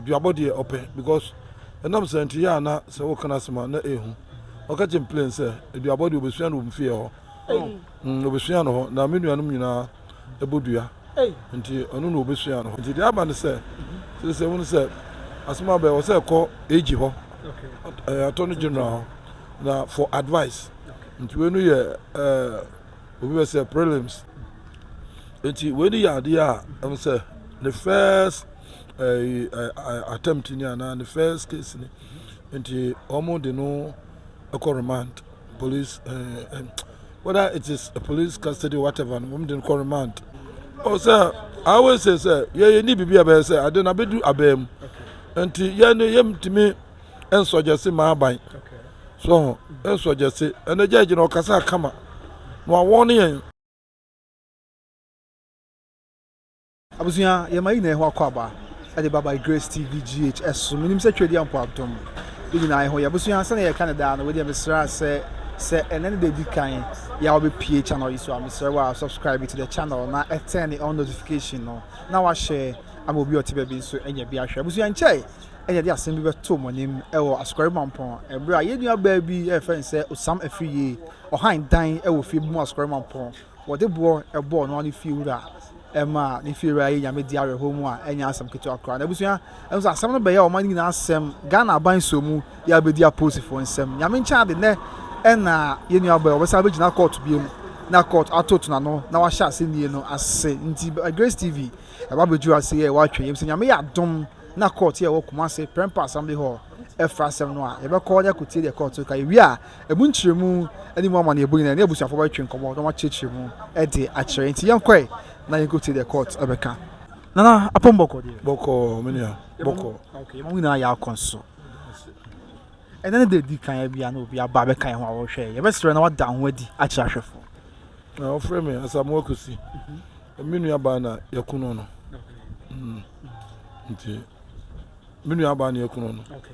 duabɔ deɛ ɔpɛ because ɛnam sɛ nti yɛ a na sɛ woka no asɛm a na ɛhu ɔka kyɛ mplain sɛ aduabɔ deɛ ɔbɛsua no wɔ mfeɛ hɔ ɔbɛsua no hɔ na me nuanom nyinaa ɛbɔ dua. Nti ɔno na ɔbɛsua no hɔ. Nti deɛ aba ne sɛ, sɛsɛ wohunu sɛ asɛm aba ɛwɔ sɛ ɛkɔ AG hɔ, Attorney General hɔ na for advice. Nti wei no yɛ obi bɛ sɛ prelims. Nti wei no yɛ adeɛ a ɛmu sɛ ne first attempt ni anaa ne first case ni. Nti wɔn de no ɛkɔ remand. police ɛɛ eh, whether it is a police custody whatever no wɔn de no kɔ remand ɔsɛ i always say sɛ yɛ yɛ ni biribi a bɛyɛ sɛ ade na bɛdu abɛɛ mu nti yɛ no yɛ ntumi nsɔgyɛse maa aban so nsɔgyɛse ɛnɛ gya gyina ɔkasa akama na wɔn yɛn. Abusua, yɛma yɛn nyinaa ho akwaaba de ba by Grace TV GH so. Menim sɛ Tweadia mpo adom yɛn nyinaa ho yɛ. Abusua, sɛnea yɛka no daa no, wei deɛ mesrɛ sɛ, sɛ ɛnɛ ne da di kan yɛ a wobɛpie channel yi so a, mesrɛ wo a subscribe to the channel na turn on notification no na wahyɛ ama obi a ɔte baabi nso anya bi ahwɛ. Abusua, nkyɛe ɛna yɛde asɛm bi bɛto mo anim wɔ Asukari Mampɔn ɛberɛ a yɛn nuabaa bi ɛrefɛ no sɛ Osam Afiriye, ɔhan dan wɔ fie bi mu Asukari Mampɔn. Wɔde boɔ bɔɔ noa ne fie wura maa ne fie wura yɛ nyame di awerɛhoɔ mu a ɛnyɛ asɛm ketewa koraa na abusua nso asɛm no bɛyɛ ɔman no nyinaa asɛm Ghana aban so mu yɛ abɛdi apolisifoɔ nsɛm nyame nkyɛn ade nɛ ɛna yɛ nua bɛyɛ wɔbɛsa abɛgyina kɔɔto biem na kɔɔto ato tona no na wahyɛ asɛnnie no ase nti Grace TV ɛba bɛduru ase yɛ wɔatwa yɛm sɛ nyame yɛ adom na kɔɔto yɛ wɔ kuma ase prɛmpa asɛm de hɔ ɛfra asɛm no a yɛbɛkɔ ne akotie deɛ kɔɔto ka yɛwie a Ɛmu nkyerɛmu ne mu amanneɛbɔ nyinaa, ɛne abusuafo bɛtwe nkɔmmɔ na wɔakyerɛkyerɛ mu de akyerɛ. Enti yɛnkɔe na yenkotie deɛ Kurt bɛka. Nana Apom bɔkɔ deɛ. Bɔkɔɔ me nua, bɔkɔɔ. Okay, yɛma mo nyinaa yɛ akɔ nso. Ɛnɛ ne da edi kan yɛ bia na obi aba bɛka yɛn ho a wɔhwɛ yɛ. Yɛbɛsrɛ na wada ho adi akyerɛ ahwɛfo. Na wɔfrɛ me Asamoah Kosi. Mhm. Me nua baa na yɛkono no. Mm. Nti me nua baa na yɛkono no. Okay.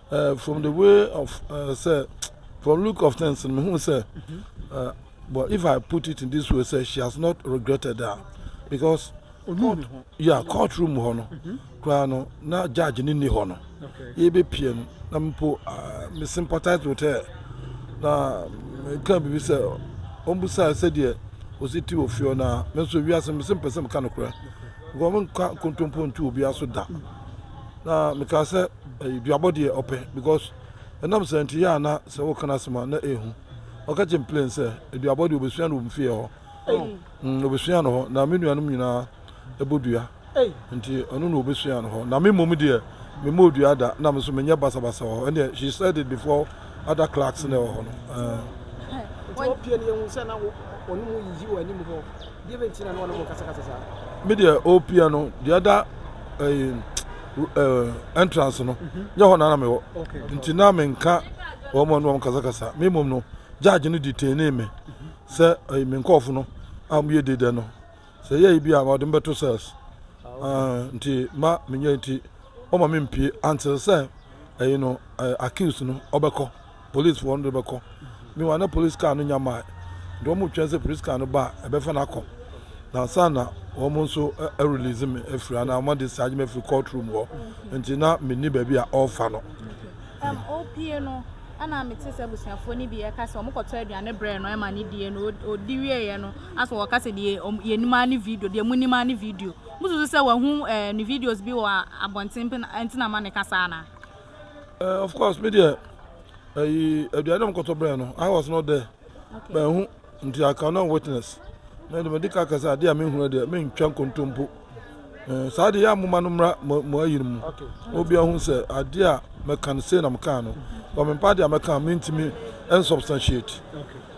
Eh, from the way of uh, sɛ from look of things no mehu sɛ uh, but if i put it in this way sɛ she has not regretted that because court, yeah, court room hɔ no koraa no na judge no nni hɔ no yɛbɛpie no na mpo uh, me sympathize with her na meka biribi sɛ ɔmbusaa sɛdeɛ ɔsi ti wɔ fie hɔ no a me nso wiase me sɛ mpɛ sɛ meka nokorɛ nkɔmka kontompo ntu obiara so da Na mekaa sɛ, Ɛyɛ duabɔ deɛ ɔpɛ, because ɛnam saa nti yɛ a na sɛ woka n'asɛm a na ɛhu. Ɔka kyerɛ me plain sɛ, aduabɔ deɛ ɔbɛsua no wɔ me fie hɔ. Mm, ɔbɛsua no hɔ. Na me nuanom nyinaa ɛbɔ dua. Nti ɔno na ɔbɛsua no hɔ. Na me mmom deɛ, memmɔɔ dua da, na me nso menyɛ basabasa wɔ hɔ. Ɛnneɛ, she said it before other clerks na ɛwɔ hɔ no. Eh. Nti wopie no yɛhu sɛ na ɔno mu yiyi wɔ anim hɔ. Me deɛ opia no the other eh, eh, entrance no nyɛ hɔ na na mewɔ nti na menka wɔn a wɔn kasakasa me mmom no judge no detainee me sɛ eh, me nkɔɔfo no a wɔyɛ di dɛ no sɛ yɛyi bi a wɔde me bɛto cells Ah, nti ma menyɛ nti wɔma me mpie until sɛ ɛyi no eh, accused no ɔbɛkɔ Polisfoɔ no de bɛkɔ. Meanwhile, na polis kaa no nnya mmaeɛ, nti wɔretwɛn sɛ polis kaa no ba a, ɛbɛfa no akɔ. Na ansa na wɔn nso arelease me afiri anaa wɔn adischarge me afiri court room hɔ nti, na menni baabi a wɔrefa no. Um, opie no, ɛna mete sɛ abusuafoɔ no bi ɛka sɛ wɔkɔtɔ aduane brɛ no ɛma ne die no ɔdi wieeɛ no asɛ wɔka sɛ deɛ yɛnim ara ne video deɛ mu nim ara ne video mususu sɛ wahu eh, ne videos bi wɔ abɔnten nti na ma ne ka saa anaa Uh, of course, me dear. Uh, eh, eh, aduane mkɔtɔ brɛ no i was not there okay. mahu nti i cannot witness na de mede ka ka sɛ adeɛ a menhunu deɛ mentwa nkontompo eh, saa deɛ yɛ amoma no mmra mo ayi no mu obia hu sɛ adeɛ a mɛka no sei na mekaa no ɔmempa adeɛ a mɛka mentumi ɛnsubstantiate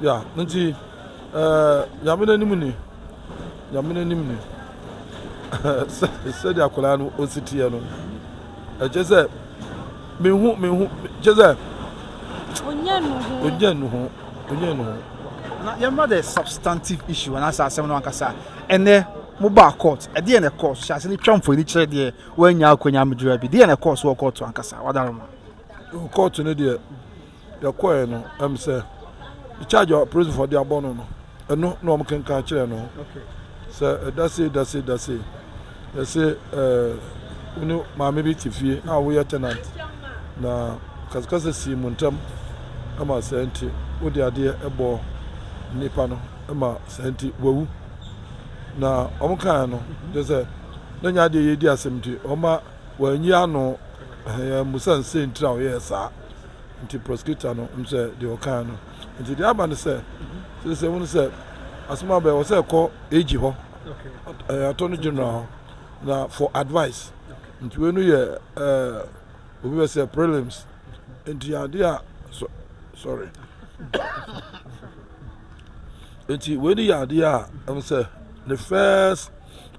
Ya nti eh Nyame n'anim ni Nyame n'anim ni sɛdeɛ akwadaa no ɔsi teɛ no ɛkyɛ sɛ mehu mehu kyɛ sɛ ɔnyɛ nu ho ɔnyɛ nu ho ɔnyɛ nu ho. na yɛmma the substantive issue anaasɛ asɛm no ankasa ɛnɛ mobaa court ɛdeɛ na ɛkɔɔ so hyɛ ase no twa mfoni kyerɛ deɛ woanya akwanya mmɛduru abi deɛ na ɛkɔɔ so wɔ court ankasa wadaroma court no deɛ Yɛkɔe no, ɛm sɛ the charge a apolisifo de abɔ no no, ɛno na wɔn kenkan kyerɛ no. Sɛ ɛda sei da sei da sei, yɛsɛ ɛɛ wone maame bi te fie a woyɛ tenant na kasakasa sii mu ntam ɛma saa nti wode adeɛ ɛbɔ nipa no ɛma saa nti wawu na wɔn kan no de sɛ ne nya adeɛ yɛ di asɛm nti wɔn ma wɔanyi ano ɛɛ musa nsɛntira wɔyɛ saa. Nti prosecutor no hu sɛ deɛ ɔkaa no nti deɛ aba no sɛ sɛsɛ hu sɛ asɛm aba wɔ sɛ ɛkɔ AG hɔ ɛɛ attorney general hɔ na for advice nti wei no yɛ ɛɛ obi bɛ sɛ prelims nti adeɛ a so sorry nti wei no yɛ adeɛ a ɛmu sɛ ne first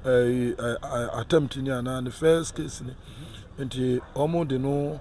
ɛɛ attempt ni anaa ne first case ni nti wɔn de no.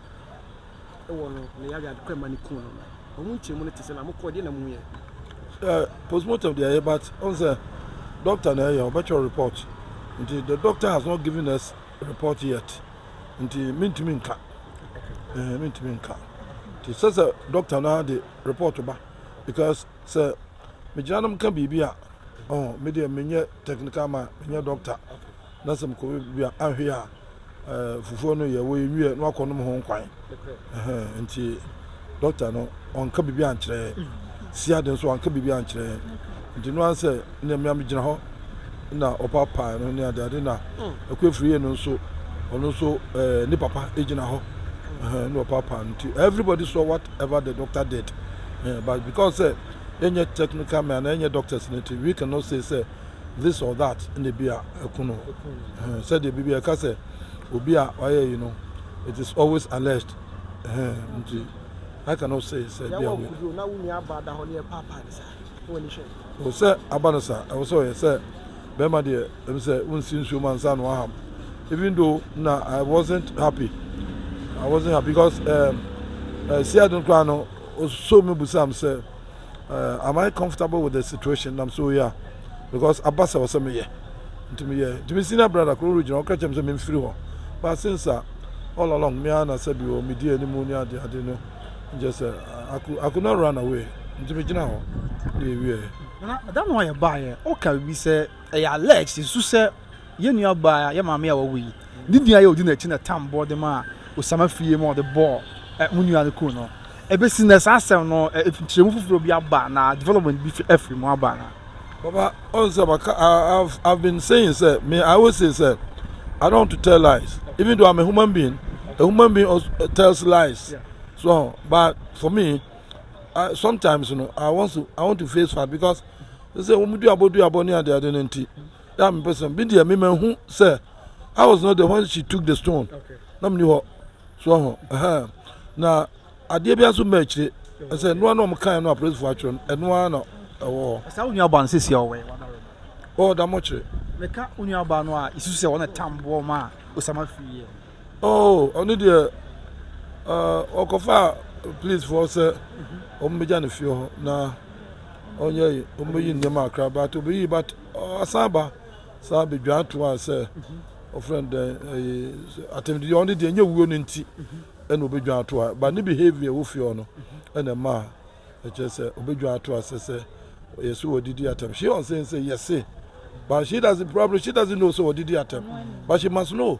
wɔ no ne yare a ɛkɔ ɛma no kum no no, wɔn nkyɛmu no te sɛ na mokɔɔ deɛ na muyɛ. Sɛ postmortem deɛ ɛyɛ but ɔn sɛ doctor na ɛyɛ ɔbɛkyerɛ report nti the doctor has not given us report yet nti mentumi nka ɛɛ mentumi nka nti sɛ sɛ doctor na de report ba because sɛ megyina nom ka biribi a ɔn medeɛ menyɛ technical man menyɛ doctor. Na sɛ mokɔ baabi a anhwɛ yie a fufuo no yɛ wɔyɛ wiɛ na wakɔ nom ho nkwan nti dɔkta no ɔnka biribi ankyerɛ yɛn sia de nso ɔnka biribi ankyerɛ yɛn nti no ara sɛ nea mmea megyina hɔ na ɔpa paa no ne adeade na ɛkɔ afiri yɛ no nso ɔno nso ɛɛ ne papa gyina hɔ ɛhɛn na ɔpa paa no nti everybody saw whatever the doctor did but because sɛ yɛnyɛ technical man na yɛnyɛ doctors no nti we cannot say sɛ. this or that na ebi a ɛko no. Ɛhɛn, sɛdeɛ biribi a ɛka sɛ obi a wayɛ yi no, it is always alleged. Ɛhɛn, nti I cannot say sɛ ebi a wei. O sɛ aba no saa, ɛwɔ sɛ ɔyɛ sɛ bɛrima deɛ ɛm sɛ wonsi nsuo ma nsa no aham. Even though na I wasn't happy, I wasn't happy because um, uh, eh, Seattle koraa no, ɔsɔ me busam sɛ. eh, am I comfortable with the situation nam so yɛ a because aba sɛ ɔsɛ meyɛ nti meyɛ nti me senior brother koro no gyina ɔka kyɛm sɛ memfiri hɔ but since a all along me ara na sɛ bi wɔ medi anim ne ade ade no nkyɛ sɛ I could, I could not run away nti megyina hɔ ne yɛwieɛ da no a yɛbaeɛ ɔka biribi sɛ ɛyɛ alleged ɛsu sɛ Yɛn nuabaa, yɛn maame a wawu yi, ne din a ɛyɛ Odi na akyi na Tam bɔ de maa Osama fie ma ɔde bɔɔ mo nua no kum no. Ɛbɛsi nnɛ, saa asɛm no, nkyerɛmu foforɔ bi aba anaa? Development bi afiri mu aba anaa? Papa, ɔn sɛ maka, I've, I've been saying sɛ, me, I always say sɛ, I don't want to tell lies, even though I'm a human being, a human being also tells lies, so ɔn, but for me, I, sometimes no, I want to, I want to face fact because, sɛ wɔn duabɔ duabɔ ne adeade no nti, Yaa mepɛ sɛ me deɛ me ma hu sɛ I was not the one she took the stone na meni hɔ so ɔho ɛhɛn na adeɛ bi nso mma akyire ɛsɛ ɛnoa na ɔmo kan no apolisifoɔ atwerɛ no ɛnoa na ɛwɔ hɔ. Ɛsɛ wo nuabaa no sisi a ɔwɛ wɔn aroma. Ɔwɔ da mo kyerɛ. Meka wo nuabaa no a isu sɛ wɔn tam boɔ ma Osama firi yɛ. Oh ɔno deɛ ɔkɔfa police foɔ sɛ ɔmo bɛgya ne fie hɔ na ɔnyɛ ɔmo bɛyi nneɛma akra but ɔbɛyi but Ɔsan ba san bedwan to a sɛ ɔfrɛ no dɛn ɛyi atɛmdi yɛ ɔno deɛ nyɛ wuo no nti ɛna obedwan to a ba ne behavior ɛwɔ fie hɔ no ɛna ɛma a ɛkyerɛ sɛ obedwan to a sɛ sɛ yɛ so wɔdidi atɛm she on saying sɛ yɛse but she doesn't probably she doesn't know sɛ wɔdidi atɛm but she must know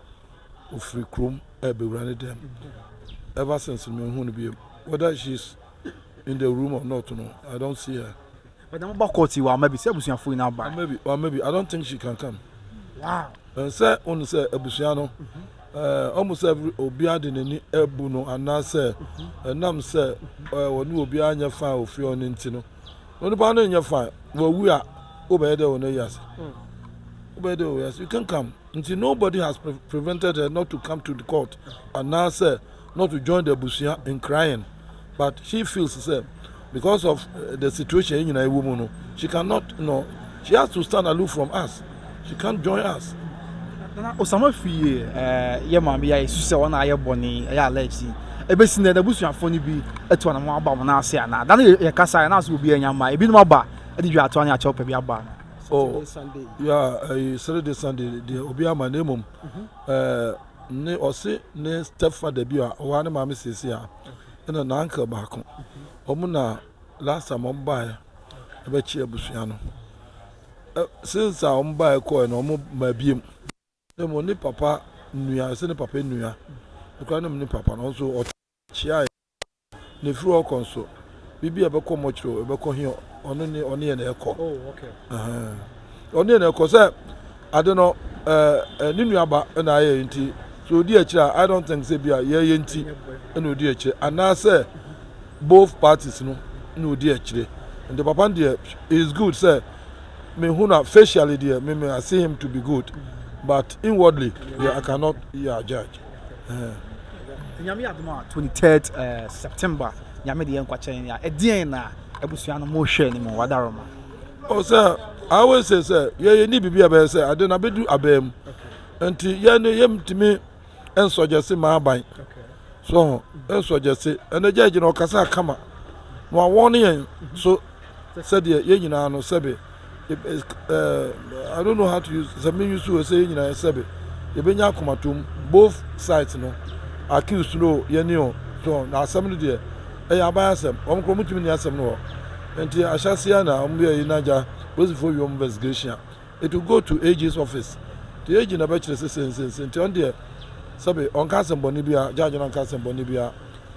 ofiri kurom rebɛwura ne dan mu. Ever since no, menhu no bio. Whether she's in the room or not no, I don't see her. But mo ba court yi wɔ ama bi sɛ abusuafoɔ nyinaa ba. Ama bi, ama bi. I don't think she can come. Wow. Sɛ ɔnu sɛ abusua no, ɔmu sɛ obiara de n'ani abu no anaasɛ ɛnam sɛ ɔne obiara nyɛ fan ofie ɔne nti no. Onipa no nyɛ fan, wɔwu a, wobɛyɛ dɛ ɔno ayi ase. Wobɛyɛ dɛ ɔyɛ ase. You can come. Nti nobody has prevented her not to come to the court anaa sɛ not to join the abusua in crying but she feels sɛ because of eh, the situation yɛ nyinaa ɛwɔ mu no she cannot you know she has to stand aloof from us she can't join us. Nana Osama fie eh, yɛ maame yɛ esu sɛ wɔn a ayɛ bɔne ɛyɛ alleged ebesi na n'abusuafo no bi etu anam aba wɔn ase anaa dan yɛ kasa yɛ n'aso obi anya ma ebinom aba ɛde dwa atoa ne akyɛw pɛ bi aba. Oh, yeah, uh, Saturday, Sunday, the Obi Ama name. Uh, mm-hmm. eh, ne ɔse ne stepfather bi a ɔwɔ ne maame siesie a ɛna na uncle baako wɔn mm-hmm. na last time wɔn baeɛ ɛbɛkye abusua no eh, since a wɔn baeɛ kɔɛ na wɔn ma abiem na mu ne papa nua ɛsɛ ne papa nua ekura ne mu ne papa na ɔnso ɔtɔ. Kyiae na efiri hɔ kɔ nso bibi a ɛbɛkɔ mɔkyerɛ o ɛbɛkɔ he ɔno ne ɔne yɛ na ɛkɔ ɔne yɛ na ɛkɔ sɛ ade no ne nuaba na ayɛ nti so odi akyire a I don't think sɛ bi a yɛyɛ nti na odi akyire anaasɛ both parties no na odi akyire nti papa no deɛ is good sɛ mehu na facially deɛ me me I see him to be good but inwardly yeah, I cannot yeah, judge. Nyame yɛ adom a 23rd September Nyame de yɛ nkwakyɛn ya ɛdeɛn na abusua no mo hwɛ ne mu wadaroma o sɛ I always say sɛ yɛyɛ ni biribi a bɛyɛ sɛ ade na bɛdu abɛɛ mu nti yɛn no yɛmtumi nsɔgyɛse ma aban so ho nsɔgyɛse ɛnɛ gya gyina ɔkasa kama na wawɔne yɛn so Sɛdeɛ yɛn nyinaa no sɛbe I don't know how to use sɛ me use o sɛ yɛn nyinaa sɛbe yɛbɛnya akomatom both sides no accused no yɛn ni o so na asɛm no deɛ ɛyɛ aban asɛm wɔn korɔ wɔn tumi ni asɛm no hɔ nti ahyɛseɛ na wɔn yɛ yi na gya polisifoɔ wie wɔn investigation a. It will go to AG's office, nti AG na bɛkyerɛ sɛ sei ne sei ne sei, nti ɔno deɛ sɛbe ɔnka asɛmmɔne biara, judge no anka asɛmmɔne biara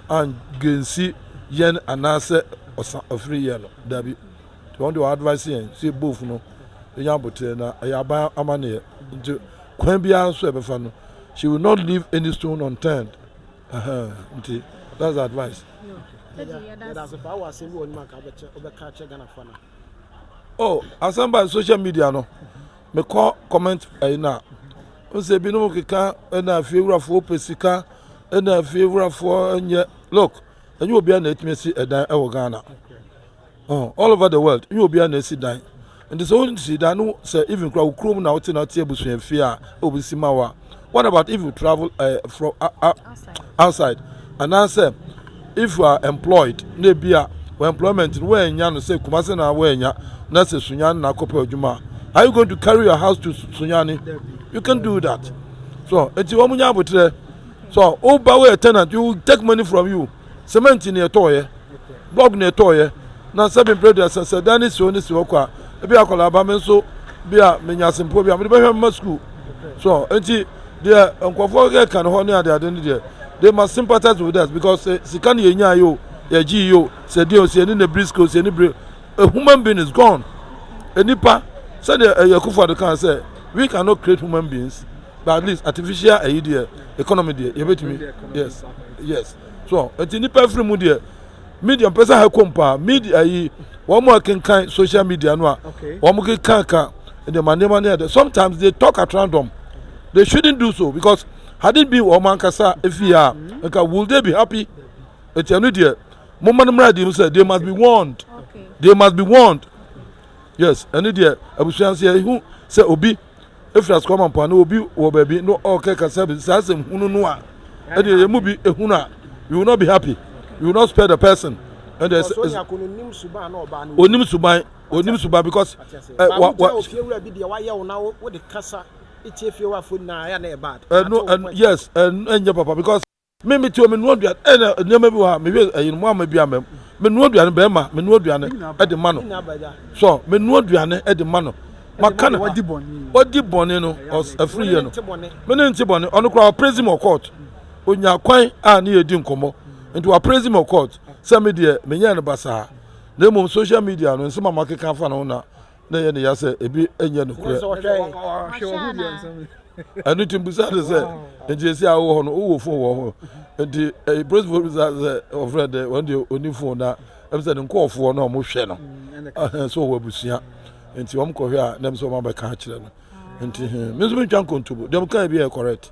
angensi yɛn anaasɛ ɔsa ɔfiri yɛn no, dabi. Nti ɔno deɛ ɔadvice yɛn sɛ both no ɛnya aboterɛ na ɛyɛ aban amaneɛ, nti kwan biara nso ɛbɛfa no, she will not leave any stone unturned. Uh-huh. Nti, that's the advice. Yɛda ase paa wɔ asɛm bi wɔ anim anka wobɛka akyerɛ Ghanafoɔ anaa? oh asan ba social media no mekɔ comment ɛyi na nsɛ ebinom keka ɛna afie wurafoɔ pɛ sika ɛna afie wurafoɔ nyɛ look ɛnyɛ obiara na etumi si ɛdan ɛwɔ ghana oh all over the world ɛnyɛ obiara na esi dan nti sɛ wɔn si dan no sɛ even kura wɔ kurom na wɔte na wɔte abusua fie a obi si ma wa. What about if you travel uh, from uh, uh, outside. outside anaasɛ if you are employed na ebi a wɔ employment no wɔanya no sɛ kumase na wɔanya na sɛ sunyani na akɔpɛ adwuma are you going to carry your house to sunyani you can do that so eti wɔn nya abotire so woba wɔyɛ tenant you take money from you Semɛnti na ɛtɔeɛ, blɔk na ɛtɔeɛ, na sɛbe mprɛ deɛ sɛ sɛ dan no si hɔ no si hɔ kwa a, ebi akwadaa ba me nso bi a menya asempoɔ bi a mede bɛhwɛ mma sukuu so nti deɛ nkurɔfoɔ yɛka no hɔ ne adeade no deɛ they must sympathize with us because eh, sika no yɛnya yo yɛgye yo sɛ deɛ sɛ yɛne na brisco sɛ yɛne bere a human being is gone nnipa sɛdeɛ ɛyɛ eh, kufa de kan sɛ we cannot create human beings but at least artificial ɛyi deɛ economy deɛ yɛbɛtumi yes yes so nti nipa afiri mu deɛ media mpɛ sɛ ha kɔm paa media ayi wɔn a kenkan social media no a wɔn kekanka nneɛma nneɛma ne ɛdɛ sometimes they talk at random they shouldn't do so because had it been wɔn ankasa efi ha nka will they be happy eti ɛnu deɛ mo mma no mmerɛ adi mu sɛ they must be warned they must be warned yes ɛnu deɛ abusua nso yɛ ehu sɛ obi. Efiri asukɔ ama mpoano obi wɔ baabi no ɔkɛ kasa bi saa asɛm hunu no a ɛdeɛ yɛ mu bi ehunu a you will not be happy you will not spare the person ɛdeɛ ɛsɛ onim suban onim suban because ɛ eh, wa wa ɛnu ɛnu yes ɛnu ɛnyɛ papa because. Me me te hɔ me noa aduane ɛna nneɛma bi wɔ ha mehwɛ ɛyin mo ama bi ama mu me noa aduane bɛrima me noa aduane ɛde ma no so me noa aduane ɛde ma no maka no wadi bɔne no ɛfiri yɛ no me ne nti bɔne ɔno koraa ɔprezi mɔ court onya kwan a ne yɛ di nkɔmɔ nti waprezi mɔ court sɛ me deɛ menyɛ no basaa na mmom social media no nsɛm a makeka afa no ho na na ɛyɛ ne ya sɛ ebi nyɛ nokorɛ. ɛno nti mbusa ne sɛ nti esi a wowɔ hɔ no wowɔ fon wɔ ho nti eh, polisifoɔ bisa sɛ ɔfrɛ dɛ wɔn deɛ ɔni fon na ɛm sɛ ne nkɔɔfoɔ no a wɔhwɛ no mm, sɛ ɔwɔ abusua nti wɔn kɔhwɛ a na ɛm sɛ wɔn abɛka akyerɛ no nti me nso mentwa nkontobo deɛ meka bi yɛ correct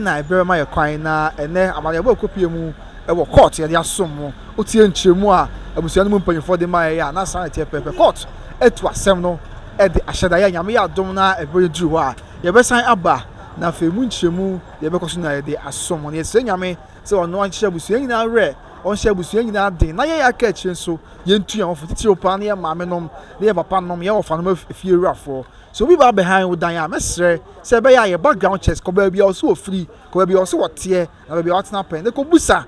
na ɛbrɛ ma yɛ kwan na ɛnnɛ amanneɛbɔ a ɛkɔpue mu wɔ kɔɔt yɛde asom mu. Wotie nkyerɛmu a abusua no mu mpanyimfoɔ de maeɛ a, na saa na ɛteɛ pɛpɛɛpɛ. Kɔɔt atu asɛm no de ahyɛ da. Yɛ a Nyame yɛ adom na ɛberɛ no duru hɔ a, yɛbɛsan aba na afei mu nkyerɛmu deɛ ɛbɛkɔ so na yɛde asom mu. Na yɛsrɛ Nyame sɛ ɔno ɔnkyerɛ abusua nyinaa werɛ, ɔnhyɛ abusua nyinaa den, na yɛn a yɛaka akyire nso, yɛntu yɛn ho fo, titiriw paa ne yɛn maamenom ne yɛn papanom, yɛn wɔfanom afiewurafoɔ. Sɛ obi ba abɛhan wo dan a, mɛsrɛ sɛ ɛbɛyɛ a yɛ background checks, kɔ baabi a ɔse ɔfiri, kɔ baabi a ɔse ɔteɛ, na baabi a ɔtena pɛn, na kɔbusa,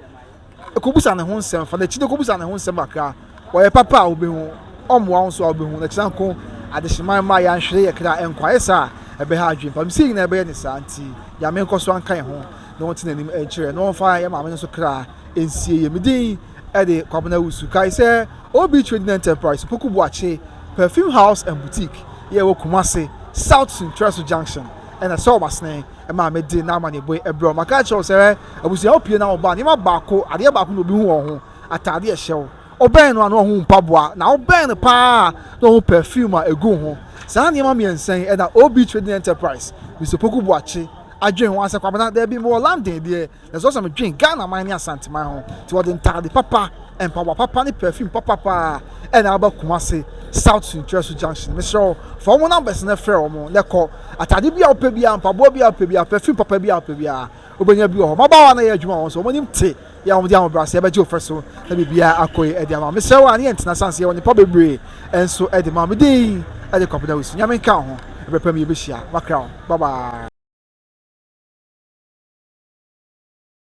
kɔbusa ne ho nsɛm, fa n'akyi na kɔbusa ne ho nsɛm kakra. Ɔyɛ papa a wobɛhu, ɔmmoa wo nso a wobɛhu, na kyena nko adehyeman mma yɛanhwere yɛ kra nkɔ, ayɛ saa a ɛbɛha adwene pam. Sei nyinaa ɛbɛyɛ ne saa nti, Nyame nkɔ so nka yɛ ho na ɔnte n'anim nkyerɛ yɛ, na ɔmfa yɛ maame no nso kra nsie yɛ. Medin. de Kwabena Awusu kae sɛ OB Trading Enterprise, Opoku Boakye Perfume House and Boutique yi a ɛwɔ Kumasi South Sunkyerɛso Junction na ɛsɔɔ wɔn asene maa me de n'amanneɛbɔe brɛɛ wɔn. Maka akyerɛ wo sɛ abusuafo pue na wɔba, nneɛma baako, adeɛ baako na obi hu wɔn ho, ataade a ɛhyɛ wo. Wobɛn no a na wahu wo mpaboa, na wobɛn no paa a na wahu perfume a egu wo ho. Saa nneɛma mmiɛnsa yi na OB Trading Enterprise, Mister Opoku Boakye, adwen ho ansa Kwabena, Dabi, mewɔ London deɛ. Na sɛ me dwen Ghana man ne Asante man ho nti wɔde ntaade papa, mpaboa papa ne perfume papa paa ɛna aba Kumase South Sunkyerɛso Junction. Mesrɛ wo fa wɔn numbers na frɛ wɔn na kɔ. Ataade bi a wopɛ biara, mpaboa bi a wopɛ biara, perfume papa bi a wopɛ biara wobɛnya bi wɔ hɔ. Mmabaawa na ɛyɛ adwuma wɔ wɔn so, wɔn anim te yɛ a wɔde ahobrɛaseɛ bɛgye wo fɛ so na biribiara akɔ yi de ama. Mesrɛ wo a ne yɛn ntena sane sɛ yɛwɔ nneɛpa bebree nso de ma wo. Mede yi de kɔpena wusu. Nyame nka wo ho. Ɛberɛ pa mu yɛbɛhyia. Makra wo. bye bye.